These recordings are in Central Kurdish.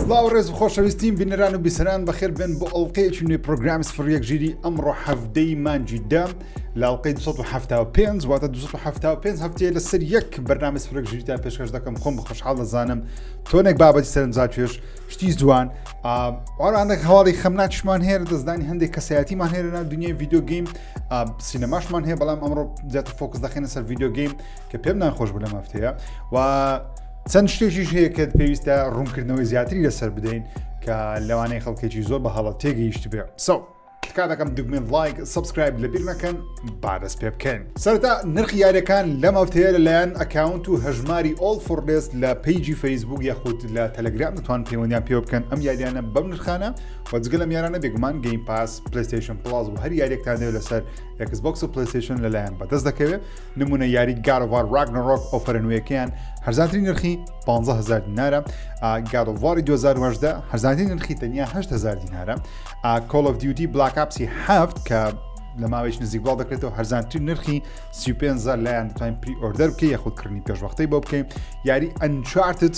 سڵاو ڕێز و خۆشەویستیم بینەران و بیسەران بەخێر بن بۆ ئەڵلقەیەکی نوێ پرۆگرامی سفرەک ژیری ئەمڕۆ هەفتەی مانجی دا لاڵقەی 1970 واتە 1970 هەفتەیە لەسەر یەک بەرنامە سفرەک ژیریتان پێشکەش دەکەم خۆم بە خۆشحاڵ دەزانم تۆنێک بابەتی سەرنجاکێش شتی جوان ئارانێک هەواڵی خەمناکشمان هەیە دەستدانی هەندێک کەسایەتیمان هەیە لە دنیای یددیو گەیم سینەماشمان هەیە بەڵام ئەمڕۆ زیاتر فۆکس دەخێنە سەر ڤیددیو گەیم کە پێم ناخۆش بوو لە مەفتەیە و چەند شتێکیش هەیە کە پێویستە ڕوونکردنەوەی زیاتری لەسەر بدەین کە لەوانەیە خەڵکێکی زۆر بە هەڵە تێگەیشت بێ سەو. کاتەکەم دگمێن لایک سبسکرایب لە بیر نەکەن بادەس پێ بکەین سەرتا نرخی یارەکان لەم هەفتەیە لەلایەن ئەکاونت و هەژماری ئۆل فڕێست لە پیجی فەیسبوک یاخود لە تەلەگرام دەتوان پەیوەندیان پێ بکەن ئەم یاریانە بەم نرخانە وە جگە لەم یارانە بێگومان گەیم پاس پلەیستەیشن پڵاس و هەر یاریەکتان دەوێت لەسەر ئەکس بۆکس و پلەیستەیشن لەلایەن بەدەست دەکەوێت نمونە یاری گارڤار راگنەڕۆک ئۆفەرە نوێیەکەیان هەرزانترین نرخی 150هزار دینارە گارڤاری 2010 هەرزانترین نرخی تەنیا 8هزار دینارە کۆل of دیوتی بلاکاپسی هەفت کە لە ماوەیش نزیکبڵاو دەکرێتەوە هەرزانترین نرخی 35 لایەن توانین پری ئۆردەر بکە یاخود کڕنی پێشوەختەی بۆ بکەین یاری ئەنچارتت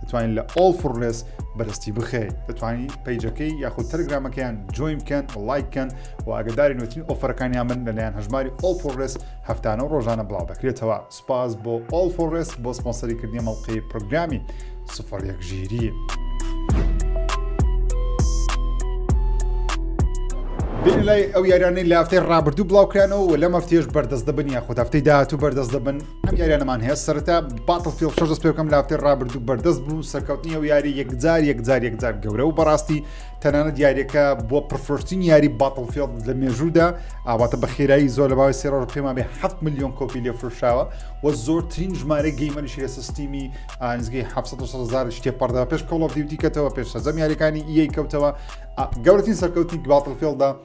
دەتوانین لە ئۆڵ فڕلێس بەرستی بخێ دەتوانین پیجەکەی یاخود تەرگرامەکەیان جوین بکەن لایکەن و ئەگەداری نوێترین ئۆفرەکانیان من لەلایەن هەژماری ئۆڵ فڕلێس هەفتانە و ڕۆژانە بڵاو دەکرێتەوە سپاس بۆ ئۆڵ فڕلێس بۆ سپۆنسەری کردنی مەڵقی پرۆگرامی سفر یەک ژیری. بین لای ئەو یارانەی لافتەی ڕابردوو بڵاوکرانەوە و لەمە فتێش بەردەست دەبن یاخود هەفتەی داهاتوو بەردەست دەبن ئەم یاریانەمان هەیە سەرتا باتڵ فیل شەش دەست پێکەم لافتێ ڕابردوو بەردەست بوو سەرکەوتنی و یاری یەکجار یەکجار یەکجار گەورە و بەڕاستی تەنانە دیارەکە بۆ پرفرۆشتین یاری باتڵ فیل لە مێژوودا ئاواتە بە خێرایی زۆر لە باوی سێڕۆژ پێما بێ 7 میلیۆن کۆپی لێ فرشاوە و زۆرترین ژمارە گەیمەریشی لە سیستیمی ئانزگەی 700 شتێ پەردەوە پێش کۆڵۆ دیوتیکەتەوە پێش سەزەم یاریەکانی یەی کەوتەوە گەورەترین سەرکەوتی باتڵ فیلدا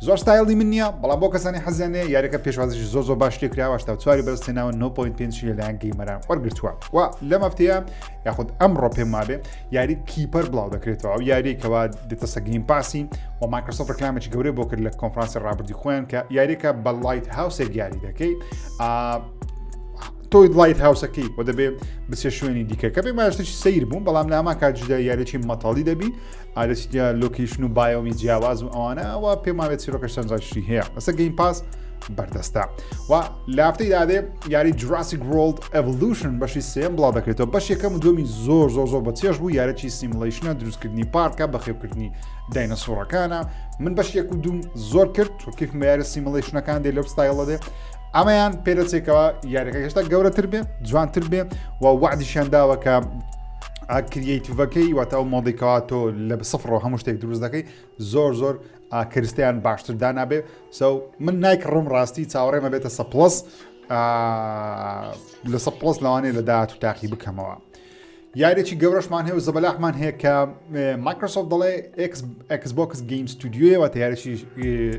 زۆر ستایڵی من نییە بەڵام بۆ کەسانی حەزیانێ یاریەکە پێشوازیش زۆ زۆ باش لێ کراوە تا چواری بەرز تێناوە 9.5 لەلایەن گەیمەران وەرگتووە و لەم هەفتەیە یاخود ئەمڕۆ پێم وابێ یاری کیپەر بڵاو دەکرێتەوە ئەو یاریکەوە دێتە سەگیم پاسی و مایکرۆسۆف ڕکلامێکی گەورەی بۆ کرد لە کۆنفرانسی ڕابردی خۆیان کە یاریەکە بە لایت هاوسێک یاری دەکەی تۆی لایت هاوسەکەی بۆ دەبێ بچێ شوێنی دیکە کە پێ ماشتێکی سیر بوون بەڵام ناما کار جدا یاریی مەتەڵی دەبی ئەرێ چ دیار لۆکەیشن و بایۆمی جیاواز و ئەوانە ئەوە پێم وابێت چیرۆکەش چەند جاشی هەیە بەسە گەیم پاس بەردەستە و لافتەی دادێ یاری جراسیک ورلد ئەڤلوشن بەشی سێم بڵاو دەکرێتەوە بەش یەکەم و دومی زۆر زۆر زۆر بە چێش بوو یارەکی سیملیشنە دروستکردنی پارکە بەخێوکردنی داینەسۆڕەکانە من بەش یەک و دوم زۆر کرد تورکیف مەیارە سیملیشنەکان دێ لەو ستایڵە دێ ئەمەیان پێدەچێکەوە یاریەکە هێشتا گەورەتر بێ جوانتر بێ و وعدیشیان داوەکە کریەیتڤەکەی واتە ئەو مۆدی کەوا تۆ لە سفڕەوە هەموو شتێک دروست دەکەی زۆر زۆر کرستیان باشتر دانابێ سەو من نایک ڕم ڕاستی چاوەڕێمە بێتە سە پلس لە سە پلس لەوانەیە لە داات و تاقی بکەمەوە. یارێکی گەورەشمان هەیە و زەبەلاحمان هەیە کە مایکرۆسۆف دەڵێ ئەکسبکس گەیم ستودیوەوە تا یارێکی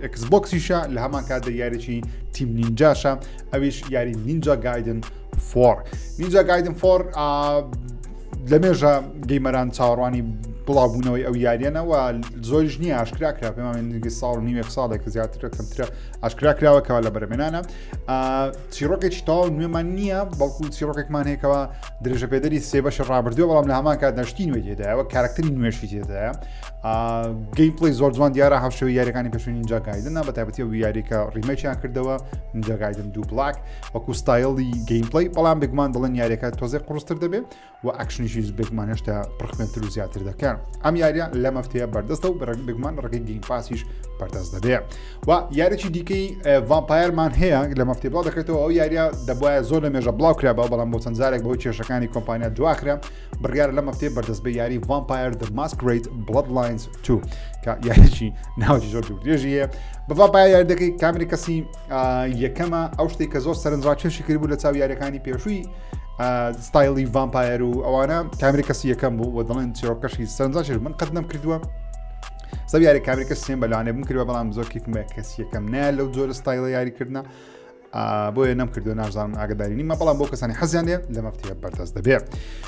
ئەکسبکسیشە لە هەمان کاتدا یارێکی تیم نینجاشە ئەویش یاری نینجا گایدن فۆڕ نینجا گایدن فۆر لە مێژە گەیمەران چاوەڕوانی بڵاوبوونەوەی ئەو یاریانەوە زۆریش نییە ئاشکرا کرا پێمانگی ساڵ نیوێک ساڵێک زیاترە کەمترە ئاشکرا کراوەکەەوە لە بەرمێنانە چیرۆکێکی تاو نوێمان نییە بەڵکو چیرۆکێکمان هەیەکەوە درێژە پێدەری سێ بەش ڕابردووە بەڵام لە هەمان کات نشتی نوێ تێدایەوە کارکتری نوێشی تێدایە گەی پلی زۆر جوان دیارە هاوشەوی یاریەکانی پێشوی نینجا گایدنە بە تایبەتی و یاریکە ڕیمەچیان کردەوە نینجا گایدن دوو بلاک وەکو ستایلی گەیمپلەی بەڵام بێگومان دڵن یاریەکە تۆزێ قڕستر دەبێ و ئەکشنیشی بێگومان هێشتا پرخمێنتر و زیاتر دەکەن ئەم یاریە لە مەفتەیە بەردەستە و بەڕێک بێگومان ڕێگەی گەیم پاسیش بەردەست دەبێ و یاریی دیکەی ڤامپایرمان هەیە لە مەفتی بڵاو دەکرێتەوە ئەو یاریە دەبواە زۆر لە مێژە بڵاو کرا بە بەڵام بۆ چەند جارێک بەەوە کێشەکانی کۆمپانیا دواخرا بڕیار لە مەفتێ بەردەست بە یاری ڤامپایر دە ماسکریت بڵد لاینز تو کە یاریی ناوجی زۆر درێژیە بەڤ پای یاردەکەی کامیری کەسی یەکەمە ئەو شتێک کە زۆر سەرنجڕاکێشی کرد بوو لە چاو یاریەکانی پێشووی ستایلی ڤامپایەر و ئەوانە کامری کەسی یەکەم بوو و دڵێن چیرۆکەشی سەرنجڕاکێش من قەت نەم کردووە سەب یاری کامریکە سێن بەلانێ بم کردوە بەڵام زۆر کیفمە کەسی یەکەم نە لەو زۆر ستایلە یاریکردە بۆیە نەم کردو نازانم ئاگداری نیمە بەڵام بۆ کەسانی حەزیانێ لە مەفتەیە بەردەست دەبێت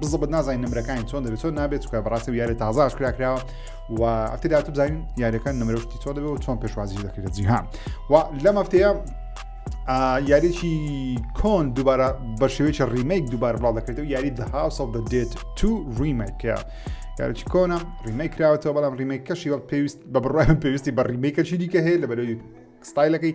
بزبت نازانین نمرەکانی چۆن دەبێت چۆن نابێت چکە بەڕاستی و یاری تازە ئاشکرا کراوە و ئەفتی داات بزانین یاریەکان نمرەشتی چۆن دەبێت و چۆن پێشوازی دەکرێت جیهان و لەم هەفتەیە یاریی کۆن دووبارە بە شێوەیە ڕیمەیک دووبار بڵاو دەکرێتەوە یاری دەها سەڵ دە دێت تو ڕیمەکە یاریی کۆنە ڕیمەی کراوەتەوە بەڵام ڕیمەی کەشی وەک پێویست بە بڕای پێویستی بە ڕیمەی کەچی دیکە هەیە لە بەرەوەی ستایلەکەی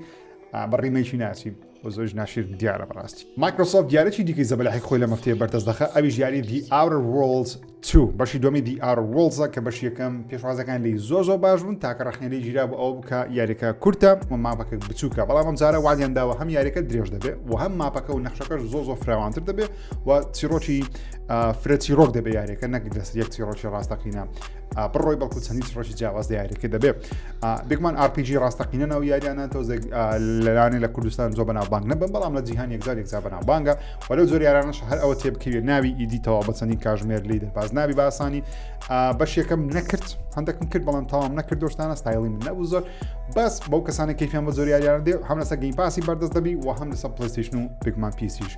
بە ڕیمەیکی ناچین و زۆریش ناشیرن دیارە بەڕاستی مایکرۆسۆفت دیارێکی دیکەی زەبەلاحی خۆی لە مەفتەیە بەردەست دەخە ئەویش یاری دی ئاورە وۆڵز تو بەشی دومی دی ئارە وڵزە کە بەش یەکەم پێشوازەکان لی زۆ زۆ باش بوون تاکە ڕخنێری گیرا بۆ ئەو بکە یاریەکە کورتە و ماپەکە بچووکە بەڵام ئەم جارە وادیان داوە هەم یاریەکە درێژ دەبێت و هەم ماپەکە و نەخشەکەش زۆ زۆ فراوانتر دەبێت و چیرۆکی فرەتی ڕۆک دەبێ یاریەکە نەک دەست یەک چیڕۆکی ڕاستەقینە بڕۆی بەڵکو چەندی ڕۆژی جیاواز دیارەکە دەبێت بێکمان RPG ڕاستەقینە ناو یاریانە تۆزێ لەلانێ لە کوردستان زۆ بەناوبانگ نەبم بەڵام لە جیهان یەکجار یەکجا بەناوبانگە وەلو زۆر یارانش هەر ئەوە تێبکەوێت ناوی ئیدیتەوە بە چەندین کاژمێر لی دەرباز نابی باسانی بەش یەکەم نەکرد هەندێکم کرد بەڵام تاوام نەکرد دۆشتانە ستایلی من نەبوو زۆر بەس بەو کەسانە کەفیان بە زۆر یاریان دێ هەم لەسەر گەین پاسی بەردەست دەبی و هەم لەسەر پلیستیشن و بگمان پیسیش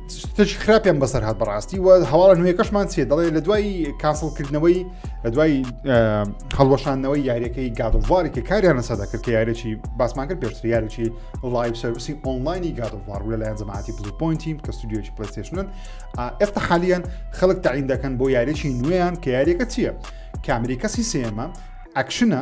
شتێکی خراپیان بەسەر هاات بەڕاستی و هەواڵە نوێەکەشمان چێ دەڵێ لە دوای کاسڵکردنەوەی لە دوای هەڵوەشانەوەی یاریەکەی گادوار کە کاریان لەسەر دەکرد کە یارێکی باسمان کرد پێشتر یارێکی لایف سرویسی ئۆنلاینی گادوار لە لایەن زەماتی بلو پوینتی کە ستودیۆکی پلیستشنن ئێستا حالیان خەڵک تعین دەکەن بۆ یاریێکی نوێیان کە یاریەکە چییە کامریکەسی سێمە ئەکشنە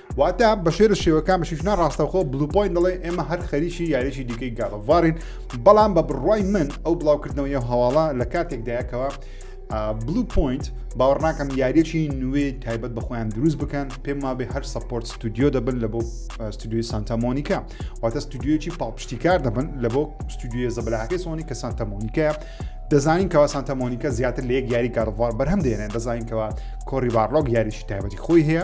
واتە بەشێرە شێوەکان بەشیشنا ڕاستەخۆ بلوپۆین دەڵێ ئێمە هەر خەریکی یاریی دیکەی گاڵڤارین بەڵام بە بڕوای من ئەو بڵاوکردنەوەی هەواڵە لە کاتێکدایەکەوە بلو پوینت باوەڕناکەم یاریەکی نوێ تایبەت بە خۆیان دروست بکەن پێم وابێ هەر سپۆرت ستودیو دەبن لە بۆ ستودیوی سانتەمۆنیکا واتە ستودیویی پاڵپشتیکار دەبن لە بۆ ستودیوە زەبلاکەی سۆنی کە سانتەمۆنیکە دەزانین کەوا سانتەمۆنیکە زیاتر لە یەک یاری کارڕوار بەرهەم دێنێن دەزانین کەەوە کۆری باڕۆک یاریشی تایبەتی خۆی هەیە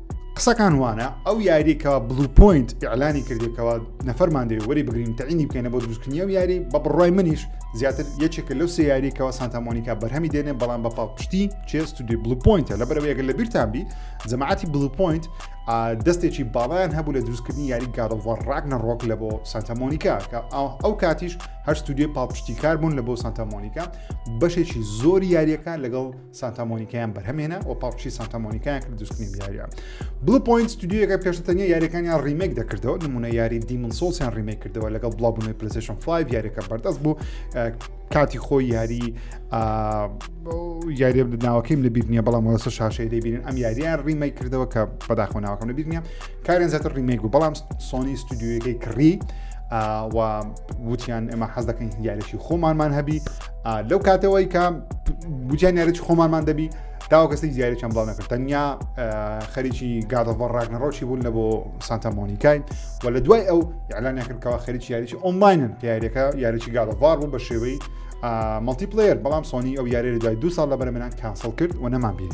قسەکان وانە ئەو یاریکەوە بلو پوینت ئیعلانی کردێکەوە نەفەرمان دەوێت وەری بگرین تەعینی بکەینە بۆ دروستکردنی و یاری بە بڕای منیش زیاتر یەکێکە لەو سێ یاریکەوە سانتامۆنیکا بەرهەمی دێنێ بەڵام بە پاڵپشتی چێ ستودی بلو پوینتە لە بەرەوەیەگە لە بیرتانبی جەماعتی بلو پوینت دەستێکی باڵیان هەبوو لە دروستکردنی یاری گارڵوە ڕاک نەڕۆک لە بۆ سانتامۆنیکا کە ئەو کاتیش هەر ستودیۆی پاڵپشتی کار بوون لە بۆ سانتامۆنیکا بەشێکی زۆری یاریەکان لەگەڵ سانتا مۆنیکایان بەرهەمێنا و پاڵپشی سانتا مۆنیکایان کرد دوستنی بیاریە بلو پوینت ستودیوەکە پێشتە تەنیا یاریەکانیان ریمێک دەکردەوە نمونە یاری دیمن سۆسیان ریمێک کردەوە لەگەڵ بڵاوبوونەوەی پلسشن 5 یاریەکە بەردەست بوو کاتی خۆی یاری یاری ناوەکەیم لە بیرنیە بەڵام وەسە شاشەی دەبین ئەم یاریان ریمای کردەوە کە بەداخۆ ناوەکەم لە بیرنیە کارێن زیاتر ریمێک بوو بەڵام سۆنی ستودیوەکەی کڕی و وتیان ئێمە حەز دەکەین یاریی خۆمانمان هەبی لەو کاتەوەی کە بجیان یارەی خۆمانمان دەبی تاوە کەسی دیاری چەند بڵاو نەکرد تەنیا خەریکی گادەڤۆ ڕاگنەڕۆکی بوون لە بۆ سانتا مۆنیکای و لە دوای ئەو یاعلان نەکردکەوە خەریکی یاریی ئۆماینن کە یاریەکە یاریی گادەڤار بوو بە شێوەی مەڵتی پلیر بەڵام سۆنی ئەو یاری لە دوای دو ساڵ لە بەرمنان کانسڵ کرد و نەمان بین.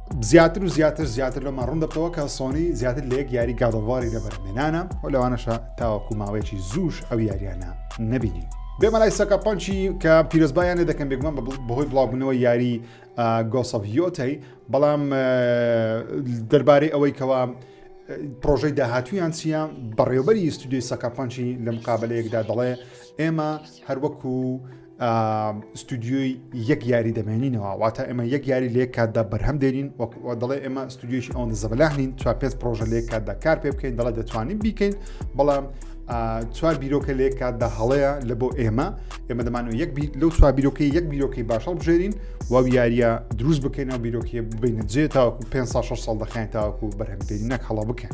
زیاتر و زیاتر زیاتر لەمان ڕوون دەبتەوە کە سۆنی زیاتر لە یەک یاری گادەڵواری لەبەرمێنانە و لەوانەشە تاوەکو ماوەیەکی زووش ئەو یاریانە نەبینی. بێمەلای سەکە پەنچی کە پیرۆزبایانە دەکەم بێگومان بەهۆی بڵاوبوونەوە یاری گۆسەڤیۆتەی بەڵام دەربارەی ئەوەی کەوا پرۆژەی داهاتویان چییە بەڕێوبەری یستودیوی سەکەپەنچی لە مقابلەیەکدا دەڵێ ئێمە هەروەکو ستودیۆی یەک یاری دەمێنینەوە واتە ئێمە یەک یاری لێک کاتدا بەرهەم دێنین وەکوە دەڵێ ئێمە ستودیۆشی ئەوەندە زەبلاح نین چوار پێ پرۆژە لێک کاتدا کار پێ بکەین دەڵێ دەتوانین بیکەین بەڵام چوار بیرۆکە لێک کاتدا هەڵەیە لە بۆ ئێمە ئێمە دەمانەوە یەک لەو چوار بیرۆکەی یەک بیرۆکەی باشەڵ بژێرین و یاریە دروست بکەینەوە بیرۆکیە ببینە جێ تاوەکو 5 سال 6 سال دەخیان تاوەکو بەرهەمدێنی نەک هەڵە بکەن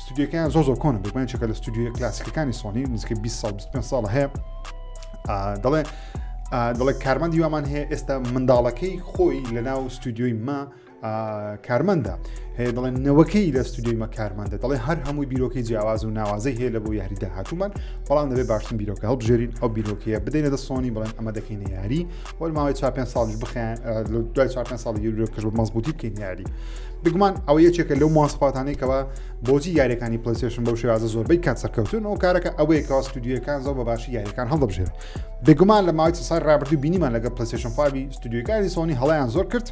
ستۆدیۆکەیان زۆر زۆر کۆنە بەگومان چێکە لە ستودیۆ کلاسیکەکانی سۆنی نزیکە 20 سال 25 ساڵە هەیە دەڵێ دەڵێ کارمان دیوامان هەیە ئێستا منداڵەکەی خۆی لە ناو ستودیۆی ما کارمەندە هەیە دەڵێن نەوەکەی لە ستودیۆی مە کارمەندە دەڵێ هەر هەمووی بیرۆکەی جیاواز و ناوازەی هەیە لە بۆ یاری داهاتومان بەڵام دەبێت باشتن بیرۆکە هەڵبژێرین ئەو بیرۆکەیە بدەینە دە سۆنی بڵێن ئەمە دەکەینە یاری وەل ماوەی چا پێ ساڵش بخیان دوای چا پێ ساڵ یورۆکەش بە مەزبوتی بکەین یاری بگومان ئەو یەکێکە لەو ماسپاتانێکەوە بۆجی یاریەکانی پلیسشن بەو شێوازە زۆربەی کات سەرکەوتن ئەو کارەکە ئەوەیە کەوا ستودیوەکان زۆر بە باشی یاریەکان هەڵدەبژێن بگومان لە ماوەی سای رابرردوو بینیمان لەگە پلیسشن فاوی ستودیوەکانی سۆنی هەڵیان زۆر کرد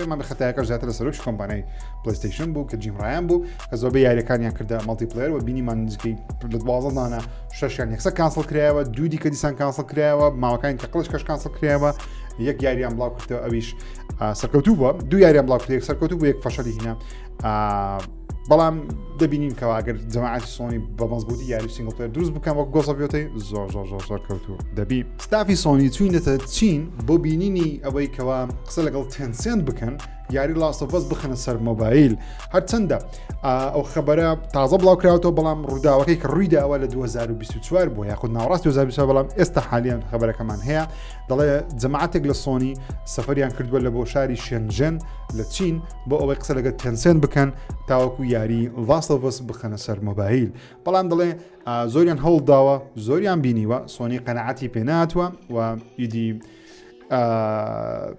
پێمان خەتایەکە زیاتر لە سەرۆکی کۆمپانای پلیستیشن بوو کە جیمڕایان بوو کە زۆربە یاریەکانیان کردە مەڵتی پلێر و بینیمان نزیکەی لە دوازدانە شەشیان یەکسەر کانسڵ کرایەوە دوو دیکە دیسان کانسڵ کرایەوە ماوەکانی تەقلش کەش کانسڵ کرایەوە یەک یاریان بڵاو کردەوە ئەویش سەرکەوتوو بووە دوو یاریان بڵاو کرد سەرکەوتوو بۆ یەک فەشەلی هینە بەڵام دەبینین کەەوە ئەگەر جەماعاتی سۆنی بە مەزبوتی یاری سنگڵتر دروست بکەم وەک گۆزەبیۆتی زۆر زۆر زۆر زۆر کەوتو دەبی ستافی سۆنی چوینەتە چین بۆ بینینی ئەوەی کەوا قسە لەگەڵ تەنسێن بکەن یاری لاستەڤەس بخەنە سەر مۆبایل هەرچەندە ئەو خبرە تازە بڵاوکراوەوە بەڵام ڕووداوەکەی کە ڕووی داوە لە 2024 بۆ یاخود ناوڕاست 2024 بەڵام ئێستا حالیان خبرەکەمان هەیە دەڵێ جەماعاتێک لە سۆنی سەفریان کردووە لە بۆ شاری شێنژێن لە چین بۆ ئەوەی قسە لەگە تەنسێن بکەن تاوەکو یاری لاستەڤەس بخەنە سەر مۆبایل بەڵام دەڵێ زۆریان هەوڵداوە زۆریان بینیوە سۆنی قەنەعاتی پێناتوە و ئیدی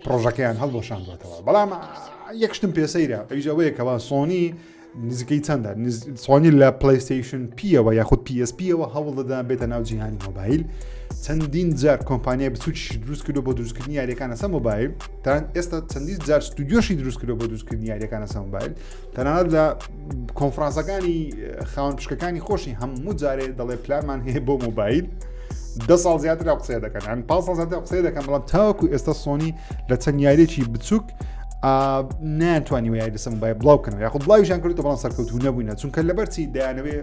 پڕۆژەکەیان هەڵبۆشاندوەتەوە بەڵام یەک شتم پێسەیرە ئەویش ئەوەیەکەوە سۆنی نزیکەی چەندە سۆنی لە پلیستیشن پیەوە یاخود PSPەوە هەوڵ دەدان بێتە ناو جیهانی مۆبایل چەندین جار کۆمپانیای بچوکی دروست کردو بۆ دروستکردنی یاریەکانە سە مۆبایل تان ئێستا چەندی جار ستودیۆشی دروست کردو بۆ دروستکردنی یاریەکانە سە مۆبایل تەنانەت لە کۆنفرانسەکانی خاون پشکەکانی خۆشی هەموو جارێ دەڵێ پلانمان هەیە بۆ مۆبایل دە ساڵ زیاتر قسەیە دەکەن ئەم پا ساڵ زیاتر قسەیە دەکەم بەڵام تاوەکو ئێستا سۆنی لە چەند یاریێکی بچووک ناتوانانی وە یاریسم بای بڵاو بکەن یاخود بڵاویشان کردو بەڵام سەرکەوتو نەبووینە چونکە لەبەرچی دایانەوێ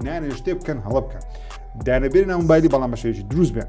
نانێ شتێ بکەن هەڵە بکەن دانەبێ ناومبایلی بەڵام بەشێکی دروست بێن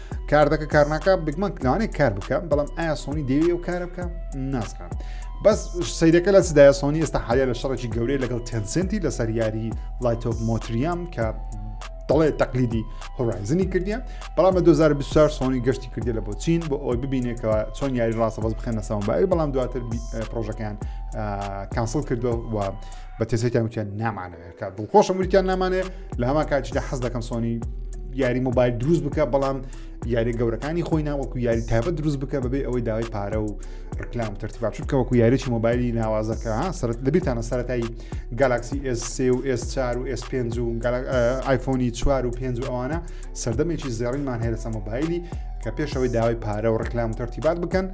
کار دەکە کار ناکە بگمەک لەوانەیە کار بکە بەڵام ئایا سۆنی دەوێ و کارە بکە نازانم بەس سیرەکە لە سدایە سۆنی ئێستا حالیا لە شەڕێکی گەورەی لەگەڵ تەنسنتی لەسەر یاری لایتۆپ مۆتریام کە دەڵێ تەقلیدی هۆرایزنی کردیە بەڵام لە 2024 سۆنی گەشتی کردی لە بۆ چین بۆ ئەوی ببینێکەوە چۆن یاری ڕاستە بەس بخێنە سەمبای بەڵام دواتر پرۆژەکەیان کانسڵ کردو و بە تێسێکیان وتیان نامانەوێت بکات دڵخۆشم وریان نامانێ لە هەما کاتیشدا حەز دەکەم سۆنی یاری مۆبایل دروست بکە بەڵام یاری گەورەکانی خۆی ناوەکو یاری تابە دروست بکە بەبێ ئەوەی داوای پارە و ڕکلام ترتیبا چونکە وەکو یاریی مۆبایلی ناوازەکە سەرت دەبیتانە سەرەتایی گالاکسی S3 و S4 و S5 و آیفۆنی 4 و 5 و ئەوانە سەردەمێکی زێڕینمان هەیە لەسە مۆبایلی کە پێشەوەی داوای پارە و ڕکلام و ترتیبات بکەن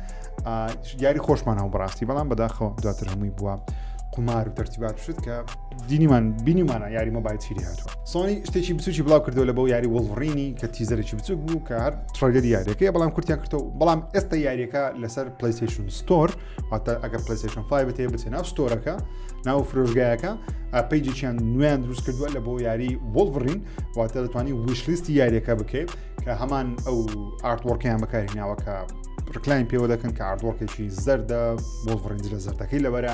یاری خۆشمان هەو بڕاستی بەڵام بەداخەوە دواتر هەمووی بووە قمار و ترتیبات شت کە دینیمان بینیمانە یاری مۆبایل چیری هاتووە سۆنی شتێکی بچوکی بڵاو کردەوە لە بۆ یاری وڵڕینی کە تیزەرێکی بچوک بوو کە هەر تڕگەری یاریەکەی بەڵام کورتیان کردەوە بەڵام ئێستا یاریەکە لەسەر پلیسیشن ستۆر هاتە ئەگەر پلیسیشن فایبێت بچێ ناو ستۆرەکە ناو فرۆژگایەکە پەیجێکیان نوێن دروست کردووە لە بۆ یاری وڵڕین واتە دەتوانانی ویشلیستی یاریەکە بکەیت کە هەمان ئەو ئارتوەڕکەیان بەکاری ناوەکە ڕکلاین پێوە دەکەن کە ئاردوەڕکێکی زەردە بۆ ڕنج لە زەردەکەی لەبەرە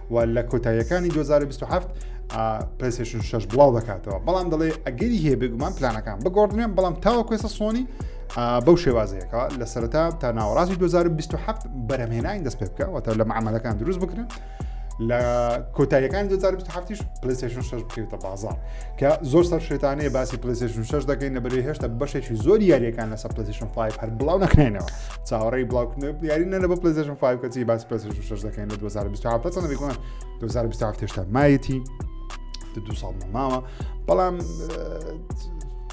و لە کۆتاییەکانی 2027 پلسشن شش بڵاو دەکاتەوە بەڵام دەڵێ ئەگەری هەیە بێگومان پلانەکان بگۆڕدرێن بەڵام تاوە کوێسە سۆنی بەو شێوازەیەەکە لە سەرتا تا ناوەڕاستی 2027 بەرەمێنانی دەست پێ بکە وەتە لە معاملەکان دروست بکرن لە کۆتاییەکان 2027 پلیسشن 6 بکەوتە بازار کە زۆر سەر شێتانەیە باسی پلیسشن 6 دەکەین نەبەری هێشتا بەشێکی زۆر یاریەکان لەسە پلیسشن 5 هەر بڵاو نەکەینەوە چاوەڕێی بڵاوکردنەوەی دیاری نەرە بە پلزشن فای کەچی باس پێ شش دەکەین لە 2027 چەند بێکوان 2027 تێشتا مایەتی دو ساڵ ماوە بەڵام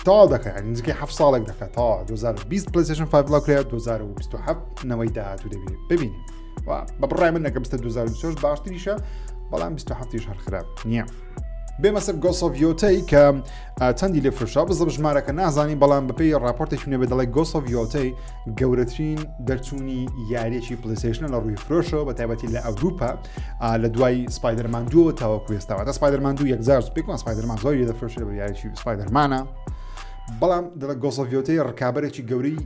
تاوا دەکە نزیکەی ه ساڵێک دەکە تا 2020 پلسشن فبلا کرێت 2027 نەوەی داهاتوو دەبێت ببین بە بڕای من نەکە بستە 2020 باشتریشە بەڵام 2027 هەر خراپ نییە. بێمەسەر گۆسۆڤیۆتەی کە چەندی لێ فرشا بزە ژمارەکە نازانی بەڵام بەپی راپۆرتێک نوێ بە دەڵی گۆسۆڤیۆتەی گەورەترین دەرچوونی یاریەکی پلیسشنە لە ڕووی فرۆشەوە بە تایبەتی لە ئەوروپا لە دوای سپایدەرمان دووە تاوەکو ێستاوە سپایدەرمان دوو یەکزار پێکمان سپایدەرمان زۆری دەفرۆشێ بە یاریی سپایدەرمانە بەڵام دەڵە گۆسەڤۆتەی ڕکابەرێکی گەورەی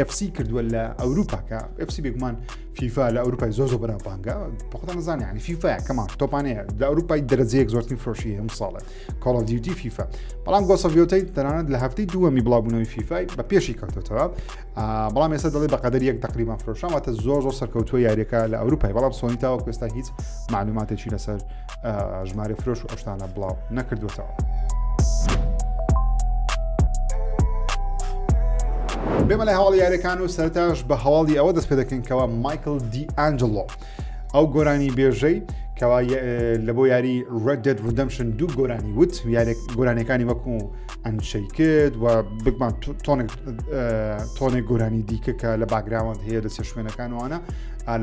FC کردووە لە ئەوروپاکە FC بێگومان فیفا لە ئەوروپای زۆ زۆ بەرابانگە بەخۆتان زانانی فیفاە کەمان تۆپانەیە لە ئەوروپای دەرەجەیەک زۆرترین فرۆشی هەم ساڵێت کۆڵ ئۆف دیوتی فیفا بەڵام گۆسەڤۆتەی تەنانەت لە هەفتەی دووەمی بڵاوبوونەوەی فیفای بە پێشی کەوتێتەوە بەڵام ئێستا دەڵێ بەقدر یەک تقریبان فرۆشانواتە زۆر زۆر سەرکەوتووە یاریەکە لە ئەوروپای بەڵام سۆنی تاوە کوێستا هیچ معلوماتێکی لەسەر ژمارە فرۆش و ئەشتانە بڵاو نەکردوێتەوە. بێمە لە هەواڵ یاریەکان و سەرتاش بە هەواڵی ئەوە دەست پێ دەکەین کەەوە مایکل دی ئەنجلۆ ئەو گۆرانی بێژەی کەوا لە بۆ یاری Red Dead Redemption دوو گۆرانی وت گۆرانەکانی وەکو ئەنشەی کرد و بگمان تۆنێک گۆرانی دیکە کە لە باگراوەند هەیە لەسەر شوێنەکانوانە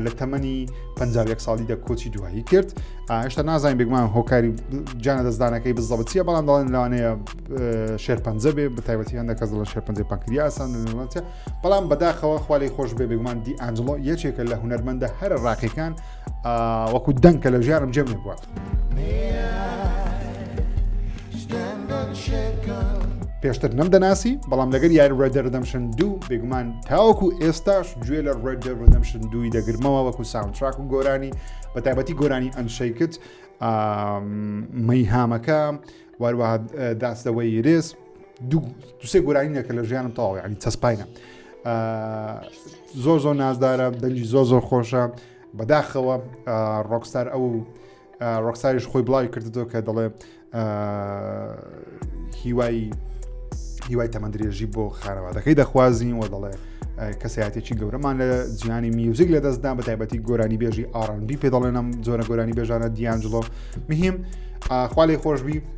لە تەمەنی 51 ساڵی دە کۆچی دوایی کرد هێشتا نازانین بگمان هۆکاری جانە دەستدانەکەی بزەبەتیە بەڵام دەڵێن لەوانەیە شێرپەنجە بێ بە تایبەتی هەندە کەس دەڵە شێرپەنجە پەکریاسان بەڵام بەداخەوە خوا لەی خۆش بێ بێگومان دی ئەنجڵۆ یەکێکە لە هوەرمەندە هەرە ڕاقیەکان وەکو دەنکە لە ژیانم جێم بووە. پێشتر نەم دەناسی بەڵام لەگەر یاری ڕێدە ردەمشن دوو بێگومان تاوەکو ئێستاش گوێ لە ڕێدە ڕدەمشن دووی دەگرمەوە وەکو ساونتراک و گۆرانی بە تایبەتی گۆرانی ئەنشەیکت مەیهامەکە واروە داستەوەی رێز دوسێ گۆرانی نەکە لە ژیانم تەواوی عنی چەسپاینە زۆر زۆر نازدارە دەنجی زۆر زۆر خۆشە بەداخەوە ڕۆکستار ئەو ڕۆکساریش خۆی بڵاوی کردو کە دەڵێ هیوای هیوای تەمەندرێژی بۆ خانەوادەکەی دەخوازین و دەڵێ کەسایەتێکی گەورەمان لە جیانی میوزیک لە دەستدا بە تایبەتی گۆرانی بێژی ئارانبی پێ دەڵێنم جۆرە گۆرانی بێژانە دیانجلۆ مهم خالی خۆشببی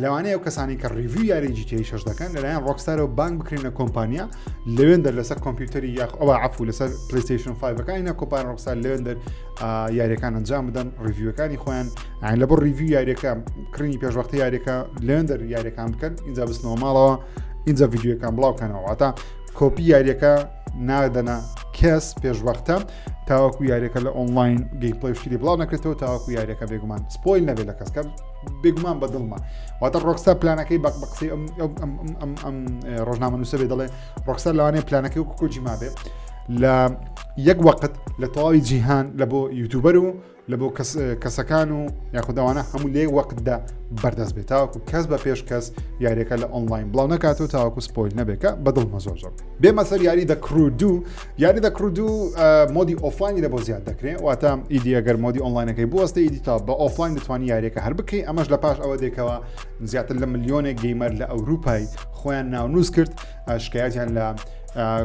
لەوانەیە ئەو کەسانی کە ڕیڤی یاری جیتیی شش دەکەن لەلایەن ڕۆکستارەوە بانک بکرێنە کۆمپانیا لەوێندەر لەسەر کۆمپیوتەری یاخ ئەوە عفو لەسەر پلیستیشن 5ەکانە کۆپان ڕۆکستار لەوێندەر یاریەکان ئەنجام بدەن ڕیڤیوەکانی خۆیان لە بۆ ڕیڤی یاریەکە کڕینی پێشوەختی یاریەکە لەوێندەر یاریەکان بکەن اینجا بستنەوە ماڵەوە اینجا یددیوەکان بڵاوکەنەوەواتە کۆپی یاریەکە نادەنە کەس پێشوەختە تاوەکو یاریەکە لە ئۆنلاین گەیپڵی شتی بڵاو نەکرێتەوە تاوەکو یاریەکە بێگومان سپۆیل نەبێت لە کەسکەم بێگومان بە دڵمە واتە ڕۆکستا پلانەکەی بەق بە قسەی ئەم ڕۆژنامە نووسە بێ دەڵێ ڕۆکستا لەوانەیە پلانەکەی و کۆجی مابێ لە یەک وەقت لە تەواوی جیهان لە بۆ یوتوبەر و لە بۆ کەسەکان و یاخوداوانە هەموو لێ وەقتدا بەردەست بێت تاوەکو کەس بە پێش کەس یاریەکە لە ئۆنلاین بڵاو نکات و تاوەکو سپۆیل نەبێکە بەدڵ مەزۆزۆ بێمە سەر یاری دەکرو دوو یاری دەکڕدو مۆدی ئۆفلاینی لە بۆ زیاد دەکرێ واتە ئیدی ئەگەر مۆدی ئۆنلاینەکەی بوەستە ئیدی تا بە ئۆفلاین دەتوانانی یاریەکە هەر بکەی ئەمەش لە پاش ئەوە دێکەوە زیاتر لە ملیۆنێک گەیمەر لە ئەوروپای خۆیان ناونووس کرد شکایەتیان لە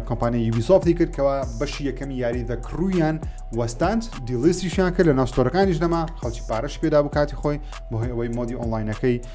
کۆمپانی یوبیسۆفتی کردکەوە بەشی یەکەمی یاری دە کڕویان وەستاند دیلیسیشیان کرد لە ناوستۆرەکانیش نەما خەڵکی پارەش پێدا بکاتی خۆی بۆهی ئەوەی مۆدی ئۆنلاینەکەی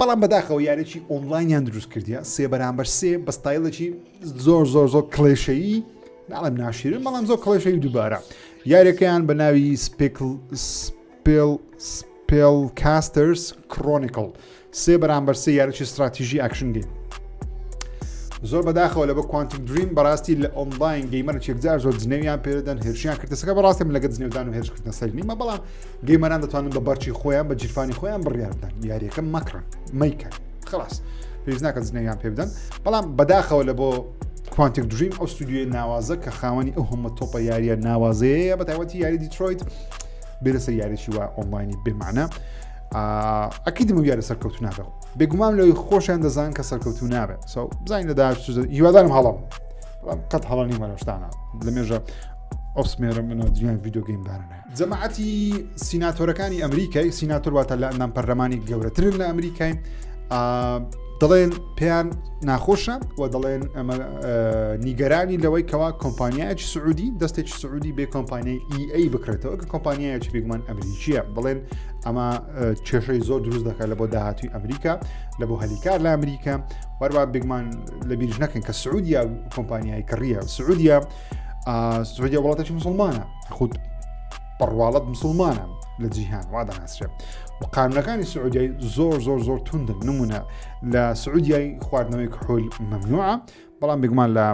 بەڵام بەداخەوە یاریی ئۆنلاینیان دروست کردە سێ بەرامبەر سێ بە ستایلێکی زۆر زۆر زۆر کلێشەیی ناڵم ناشیرن بەڵام زۆر کلێشەی دووبارە یاریەکەیان بە ناوی سپێکل سپێل سپێل کاستەرس کرۆنیکل سێ بەرامبەر سێ یاریی استراتیژی ئەکشن گەیم زۆر بەداخەوە لە بە کوانتم دریم بەڕاستی لە ئۆنلاین گەیمەر چێکجار زۆر جنێویان پێدەن هێرشیان کردەسەکە بەڕاستم لەگە جنێودان و هێرشکردن سەرنیمە بەڵام گەیمەران دەتوانن بە بەرچی خۆیان بە جیرفانی خۆیان بڕیار بدەن یاریەکە مەکڕن مەیکەن خلاص پێویست ناکە زنەویان پێ بدەن بەڵام بەداخەوە لە بۆ کوانتێک دریم ئەو ستودیوی ناوازە کە خاوەنی ئەو هەمە تۆپە یاریە ناوازەیە بە تایوەتی یاری دیترۆیت بێ لەسەر یاریی وە ئۆنلاینی بێمانە ئەکی دمە یارە سەرکەوت نابێت بێگومان لەوەی خۆشیان دەزان کە سەرکەوت و نابێت سەو بزانین لە داش هیوادارم هەڵم قەت هەڵنی مەرەشتانە لە مێژە ئۆسمێرە منەوە دنیای یددیوگەیم دارنە جەماعەتی سیناتۆرەکانی ئەمریکای سیناتۆر واتە لە ئەندام پەرلەمانی گەورەترن لە ئەمریکای دەڵێن پێیان ناخۆشە و دەڵێن ئەمە نیگەرانی لەوەی کەوا کۆمپانیایکی سعودی دەستێکی سعودی بێ کۆمپانیای EA بکرێتەوە کە کۆمپانیایکی بگومان ئەمریکیە بڵێن ئەمە کێشەی زۆر دروست دەکات لە بۆ داهاتوی ئەمریکا لە بۆ هەلیکار لە ئەمریکا وەروا بگمان لە بیرژ نەکەن کە سعودیا کۆمپانیای کڕیە سعودیا سعودیا وڵاتێکی مسلمانە خود بەڕواڵەت مسلمانە لە جیهان وا دەناسرێت و قانونەکانی سعودیای زۆر زۆر زۆر توندن نمونە لە سعودیای خواردنەوەی کحول مەمنوعە بەڵام بگومان لە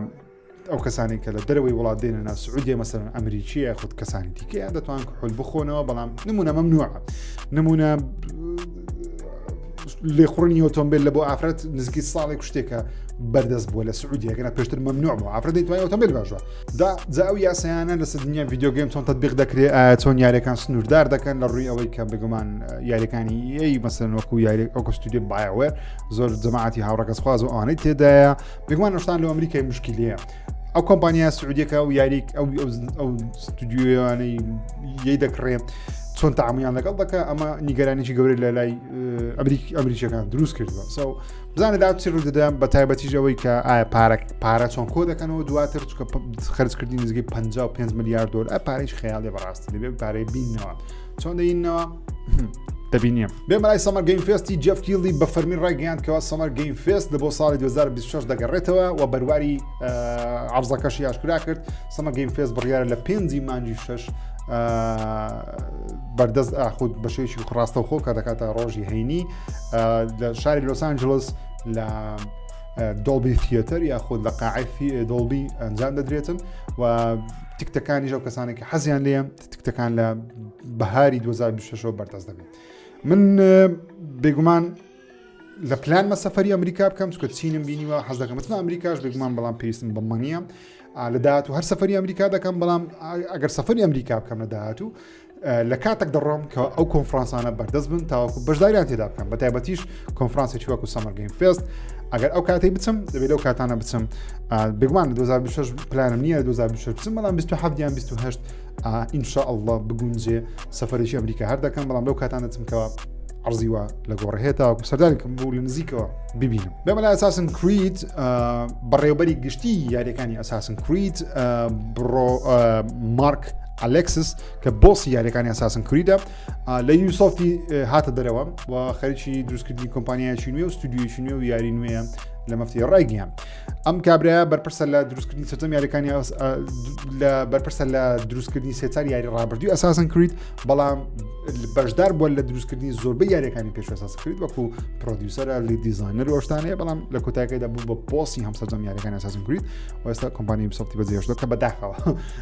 ئەو کەسانی کە لە دەرەوەی وڵات دێنە نا سعودیە مەسەرن ئەمریکیە خود کەسانی دیکەیان دەتوان کحول بخۆنەوە بەڵام نمونە مەمنوعە نمونە لێخڕنی ئۆتۆمبیل لە بۆ ئافرەت نزیکی ساڵێک شتێکە بەردەست بووە لە سعودیەکەە پێشتر مەمنوع بوو ئافرەت دەیتوانانی ئۆتۆمبیل باشە دا جا ئەو یاسایانە لەسە دنیا ڤیددیو گەیم چۆن تەبیق دەکرێ ئایا چۆن یاریەکان سنووردار دەکەن لە ڕووی ئەوەی کە بگومان یاریەکانی ئەی مەسەن وەکو یاری ئەو کەستودی باوێ زۆر جەماعتی هاوڕەکەسخواز و ئەوانەی تێدایە بگومان شتان لە ئەمریکای مشکلیە ئەو کۆمپانیا سعودیەکە و یاریک ئەو ئەو ستودیویانەی یەی دەکڕێ چۆن تاامیان لەگەڵ دەکە ئەمە نیگەرانێکی گەورە لە لای ئەمریک ئەمریکیەکان دروست کردوە ساو بزانە دا چی ڕوودەدا بە تایبەتیش ئەوەی کە ئایا پارک پارە چۆن کۆ دەکەنەوە دواتر چکە خرجکردی نزیکەی 55 میلیارد دۆر ئە پارەیش خەیاڵێ بەڕاستی دەبێت پارەی بینەوە چۆن دەینەوە دەبینیم بێمەلای سەمەر گەیم فێستی جەفکیلی بە فەرمی ڕایگەیان کەەوە سەمەر گەیم فێست لە بۆ ساڵی 2026 دەگەڕێتەوە و بەرواری عرزەکەشی یاشکرا کرد سەمە گەیم فێست بڕیارە لە پێنجی مانجی شش بەردەست ئاخود بەشێکی ڕاستەوخۆ کە دەکاتە ڕۆژی هەینی لە شاری لۆس ئانجلس لە دۆڵبی فیەتەر یاخود لە قاعفی دۆڵبی ئەنجام دەدرێتن و تکتەکانی ژەو کەسانێکی حەزیان لێم تکتەکان لە بەهاری 2026 بەردەست دەبێت من بێگومان لە پلانمە سەفری ئەمریکا بکەم چکە چینم بینیوە حەز دەکەمەتن ئەمریکاش بێگومان بەڵام پێویستم بەمە نییە لە داهات و هەر سەفری ئەمریکا دەکەم بەڵام ئەگەر سەفری ئەمریکا بکەم لە داهات و لە کاتێک دەڕۆم کە ئەو کۆنفرانسانە بەردەست بن تاوەکو بەشداریان تێدا بکەم بە تایبەتیش کۆنفرانسی چوەکو سەمەرگەین فێست ئەگەر ئەو کاتی بچم دەبێت لەو کاتانە بچم بگومان 2026 پلانم نییە 2026 بچم بەڵام 27 یان 28 ئینشا ئەله بگونجێ سەفرێکی ئەمریکا هەر دەکەم بەڵام لەو کاتان دەچمکەوە عرضیوە لە گۆڕهێتا و سەردانکم بوو لە نزیکەوە ببینم بەمەلا ئەساسن کریت بەڕێوبەری گشتی یاریەکانی ئەساسن کریت بڕۆ مارک ئەلێکسس کە بۆسی یاریەکانی ئەساسن کریدە لە یوسۆفتی هاتە دەرەوە و خەرکی دروستکردنی کۆمپانیایکی نوێ و ستودیویی نوێ و یاری نوێە لە مەفتی ڕایگیان ئەم کابراە بەرپرسە لە دروستکردنی سەرم یاریەکانی لە بەرپرسە لە دروستکردنی سێتار یاری ڕابردوی ئەساسن کریت بەڵام بەشدار بووە لە دروستکردنی زۆربە یاریەکانی پێش ئەساس کرد وەکو پرۆدیوسەرە لی دیزانەر ۆشتانەیە بەڵام لە کۆتاکەیدا بوو بە پۆسی هەم سەرم یاریەکانی ئەساسن کریت وەستا کۆمپانی سەفتی بەجێشتە کە بەداخەوە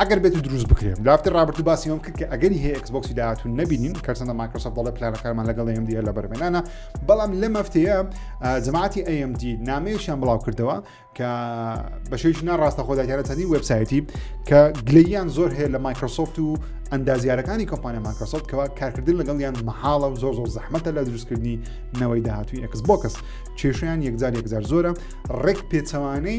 ئەگەر بێت و دروست بکرێن لافتی رابرتو باسی ئەوم کرد کە ئەگەری هەیە ئەکسبۆکسی داهاتوو نبینین کەرسەندە مایکرۆسۆفت دەڵێ پلانەکانمان لەگەڵ ئەم دیە لە بەرمێنانە بەڵام لە مەفتەیە جەماعتی ئەMD نامەیەشیان بڵاو کردەوە کە بەشێش ناڕاستە خۆداگەرە چەندی وبسایەتی کە گلیان زۆر هەیە لە مایکرۆسۆفت و ئەندازیارەکانی کۆمپانیا مایکرۆسۆفت کەوا کارکردن لەگەڵیان مەحاڵە و زۆر زۆر زەحمەتە لە دروستکردنی نەوەی داهاتوی ئەکس بۆکەس کێشیان یەکجار یەکجار زۆرە ڕێک پێچەوانەی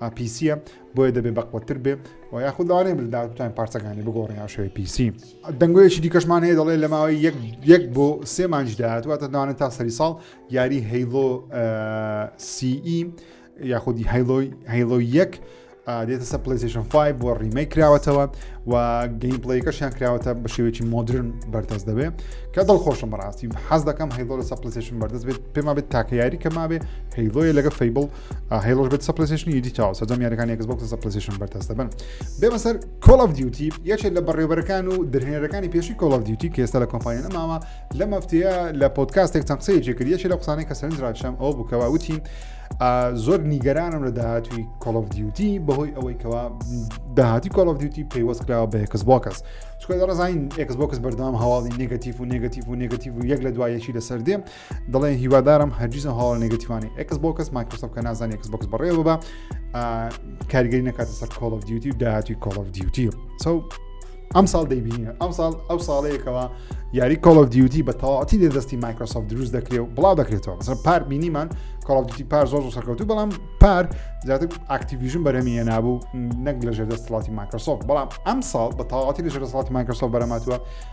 ئا پیسیە بۆیە دەبێ بەقوەتتر بێ و یاخود لەوانەیە ملدار بتوانین پارچەکانی بگۆڕین یا شوێ پیسی دەنگۆیەکی دیکەشمان هەیە دەڵێ لە ماوەی یەک یەک بۆ سێ مانج داهاتوە دەدانێت تا سەری ساڵ یاری هەیڵۆ سیئی یاخودی هەیڵۆی هەیڵۆ یەک دێتە سە پلیسیشن 5 بۆ ڕیمەی کراوەتەوە و گەین پلیکەشیان کراوەتە بە شێوێکی مۆدرن بەردەست دەبێ کە دڵ خۆشم بەڕاستی حەز دەکەم هەیڵۆ لە سە پلیسیشن بەردەست بێت پێما بێت تاکە یاری کە مابێ هەیڵۆیە لەگە فەیبڵ هەی ڕۆژ بێت سەپلسیشنی ئیدی تاوە سەرجەم یارەکان یەکس بۆکس سەپلسیشن بەردەست دەبن بێمە سەر کۆڵف دیوتی یەکێک لە بەڕێوبەرەکان و درهێنەرەکانی پێشی کۆڵف دیوتی کە ئێستا لە کۆمپانیانە ماوە لە مەفتەیە لە پۆتکاستێک چەند قسەیەکی کرد یەکێک لە قسانەی کە سەرنج ڕاکشام ئەو بووکەوە وتی زۆر نیگەرانم لە داهاتوی کۆڵف دیوتی بەهۆی ئەوەی کەوا داهاتی کۆڵف دیوتی پەیوەست کراوە بە یەکس بۆکەس چکە دەڕزانین ئەکس بۆکس بەردەوام هەواڵی نگەتیف و نگەتیف و نگەتیف و یەک لە دوایەکی لەسەر دێم دەڵێن هیوادارم هەرگیز ئەو هەواڵە نگەتیوانی ئەکس بۆکەس مایکرۆسۆف کە نازانانی ئەکس بۆکس بەڕێوە ببە کارگەری نەکاتە سەر کۆڵ ئۆف دیوتی و داهاتوی کۆڵ ئۆف دیوتی سو ئەم ساڵ دەیبینە ئەم ساڵ ئەو ساڵەیەکەوە یاری کۆڵ ئۆف دیوتی بە تەواتی لێ دەستی مایکرۆسۆف دروست دەکرێت و بڵاو دەکرێتەوە بەسەر پار بینیمان کۆڵدیتی پار زۆر زۆر سەرکەوتو بەڵام پار زیاتر ئاکتیویژن بەرەمی هێنابوو نەک لە ژێر دەستڵاتی مایکرۆسۆف بەڵام ئەم ساڵ بە تەواتی لە ژێر دەسڵاتی مایکرۆسۆف بەرەماتوە